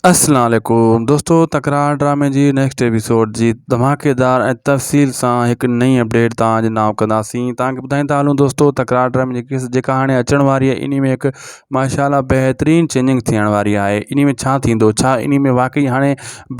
السلام عليڪم دوستو تڪرار ڊرامي جي نيڪسٽ ايپيسوڊ جي ڌماڪيدار ۽ تفصيل سان هڪ نئين اپڊيٽ توهان جي نام ڪنداسين توهان کي ٻڌائين ٿا هلون دوستو تڪرار ڊرامي جي قسط جيڪا هاڻي اچڻ واري آهي انهي ۾ هڪ ماشاءالله بهترين چينجنگ ٿيڻ واري آهي انهي ۾ ڇا ٿيندو ڇا انهي ۾ واقعي هاڻي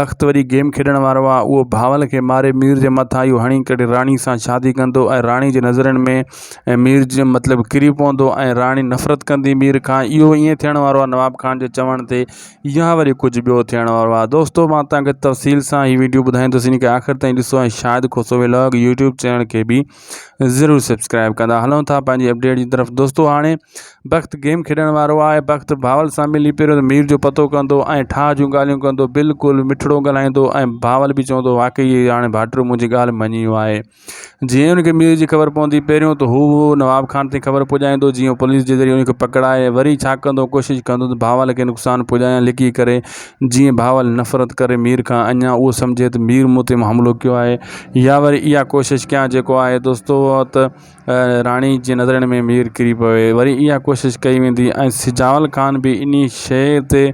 بخت وري گيم کيڏڻ وارو آهي اهو بهاول کي ماري مير جي مٿان اهو هڻي ڪري راڻي سان شادي ڪندو ۽ راڻي جي نظرن ۾ ۽ مير جي مطلب ڪري پوندو ۽ راڻي نفرت ڪندي مير کان اهو ائين ٿيڻ وارو آهي نواب خان جي چوڻ تي يا وري ڪجهه ٻيو ٿيڻ وارو آهي دوستو مان تان کي تفصيل سان هي ويڊيو ٻڌائيندس ان کي آخر تائين ڏسو ۽ Shahid Khoso vlog YouTube channel کي به ضرور سبسڪرائب ڪندا هلون ٿا پنهنجي اپڊيٽ جي طرف دوستو هاڻي بخت گيم کيڏڻ وارو آهي بخت باول سان ملي پهريون ته مير جو پتو ڪندو ۽ ٺاهه جون ڳالهيون ڪندو بلڪل مٺڙو ڳالهائيندو ۽ باول به چوندو واقعي هاڻي ڀاٽيو منهنجي ڳالهه مڃي ويو آهي جيئن ئي ان کي مير جي خبر پوندي پهريون ته هو نواب خان تائين خبر پڄائيندو جيئن هو پوليس جي ذريعي ان کي پڪڙائي وري ڇا ڪندو ڪوشش ڪندو ته بهاول کي نقصان پڄايان لڪي ڪري جيئن بهاول نفرت ڪري مير کان اڃان اهو سمجهي ته مير مون تي حملو ڪيو آهي يا وري اها ڪوشش ڪيان جيڪو آهي دوستو ته راڻي جي نظرن ۾ مير ڪري پوي وري اها ڪوشش ڪئي ويندي ۽ سجاول خان به انهي شيء تي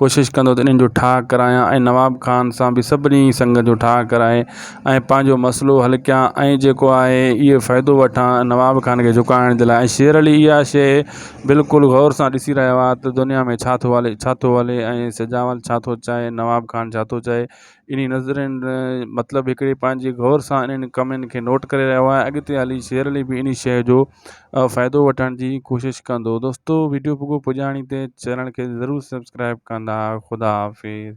ڪوشش ڪندو ته انهن جو ٺاهه ڪرايان ۽ نواب خان سان به سڀني سنگت جو ٺاهه ڪرائي ۽ پنهنجو مسئلو حل ڪيان ۽ جيڪو آهي اهو فائدو وٺان نواب خان کي جهڪائڻ جي لاء ۽ شير علي اها شيء بلڪل غور سان ڏسي رهيو آهي ته دنيا ۾ ڇا ٿو هلي ڇا ٿو هلي ۽ سجاول ڇا ٿو چاهي نواب خان ڇا ٿو چاهي انهن نظرين جو مطلب هڪڙي پنهنجي غور سان انهن ڪمين کي نوٽ ڪري رهيو آهيان اڳتي هلي شير علي به انهي شيء جو فائدو وٺڻ جي ڪوشش ڪندو دوستو ويڊيو پڳو پڄاڻي تي چينل کي ضرور سبسڪرائيب ڪندا خدا حافظ